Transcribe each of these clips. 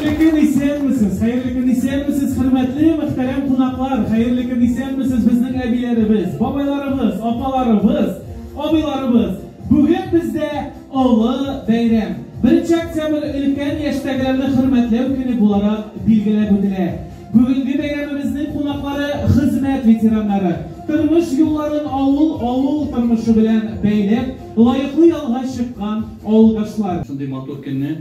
Хәерле көн, исәнмесез! Хәерле көн, исәнмесез, хөрмәтле, мөхтәрәм кунаклар! Хәерле көн, исәнмесез, безнең әбиләребез, бабайларыбыз, апаларыбыз, абыйларыбыз! Бүген бездә олы бәйрәм. Беренче октябрь өлкән яшьтәгеләрне хөрмәтләү көне буларак билгеләп үтелә. Бүгенге бәйрәмебезнең кунаклары хезмәт ветераннары. Тормыш юлларын авыл, авыл тормышы белән бәйләп, лаеклы ялга чыккан авылдашлар. Шундый матур көнне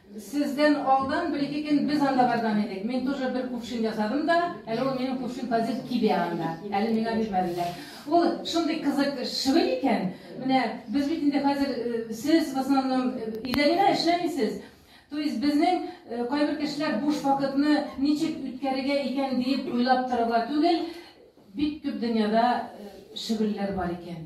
Сездән алдан бер-ике көн без анда барган идек. Мин тоже бер кувшин ясадым да, әле ул минем кувшин тазив кибә анда. Әле миңа бирмәделәр. Ул шундый кызык шөгыль икән. Менә без бит инде хәзер э, сез в основном э, идәненә эшләмисез. То есть безнең э, кайбер кешеләр буш вакытны ничек үткәрергә икән диеп уйлап торырга түгел, бик күп дөньяда шөгыльләр бар икән.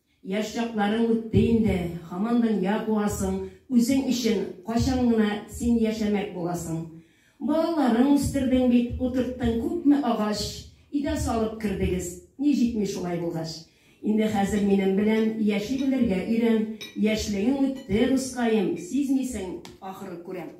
Яшь чакларың үтте инде, хаман дөнья куасың, үзең өчен кайчан гына син яшәмәк буласың? Балаларың үстердең бит, утырттың күпме агач, идә салып кердегез, ни җитми шулай булгач? Инде хәзер минем белән яши белергә өйрән, яшьлегең үтте, дускаем, сизмисең, ахры, күрәм.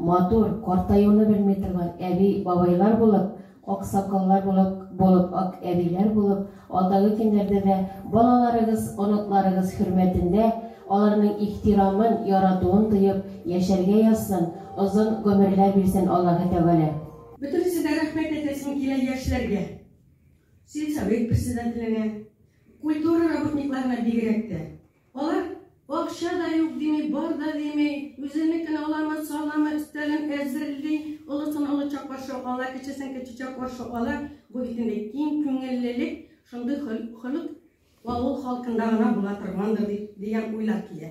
Матур, картаюны белми торган әби, бабайлар булып, аксакаллар булып, булып ак әбиләр булып, алдагы көннәрдә дә балаларыгыз, оныкларыгыз хөрмәтендә, аларның ихтирамын, яратуын тоеп, яшәргә язсын, озын гомерләр бирсен Аллаһы Тәгалә. Бөтенесе дә рәхмәт әйтәсем килә яшьләргә, сельсовет председателенә, культура работникларына бигрәк тә. Алар акча да юк дими, бар да дими, үзенекен аламы, саламы, өстәлен әзерли, олысын олыча каршы ала, кечесен кечечә каршы ала. Бу бит инде киң күңеллелек, шундый холык авыл халкында гына була торгандыр дигән уйлар килә.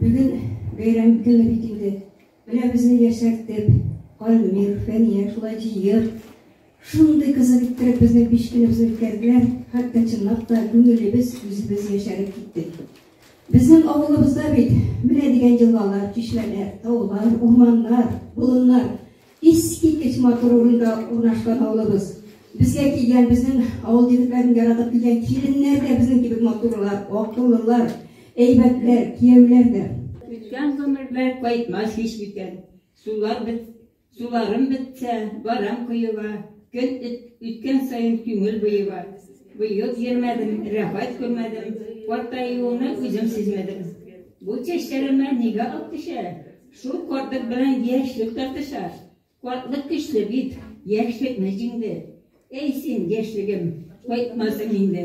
Бүген бәйрәм көне бит инде. Менә безне яшәртеп, Калмир, Фәния шулай җыеп, Шундый кызык иттереп безнең пичкенебезне үткәрделәр, хәтта чынлап та күңелебез үзебез яшәреп киттек. Безнең авылыбызда бит менә дигән елгалар, чишмәләр, таулар, урманнар, болыннар, искиткеч матур урында урнашкан авылыбыз. Безгә килгән, безнең авыл егетләрен яратып килгән киленнәр дә безнең кебек матурлар, акыллылар, әйбәтләр, кияүләр дә. Үткән гомерләр кайтмас һич микән. Сулар без Суларым бетсә, барам коега, Көн үткән саен күңел боега. Быел йөрмәдем, рәхәт күрмәдем, Картаюымны үзем сизмәдем. Бу чәчләремә нигә ак төшә? Шул картлык белән яшьлек тартыша. Картлык көчле бит, яшьлекне җиңде. Әй син, яшьлегем, кайтмасың инде.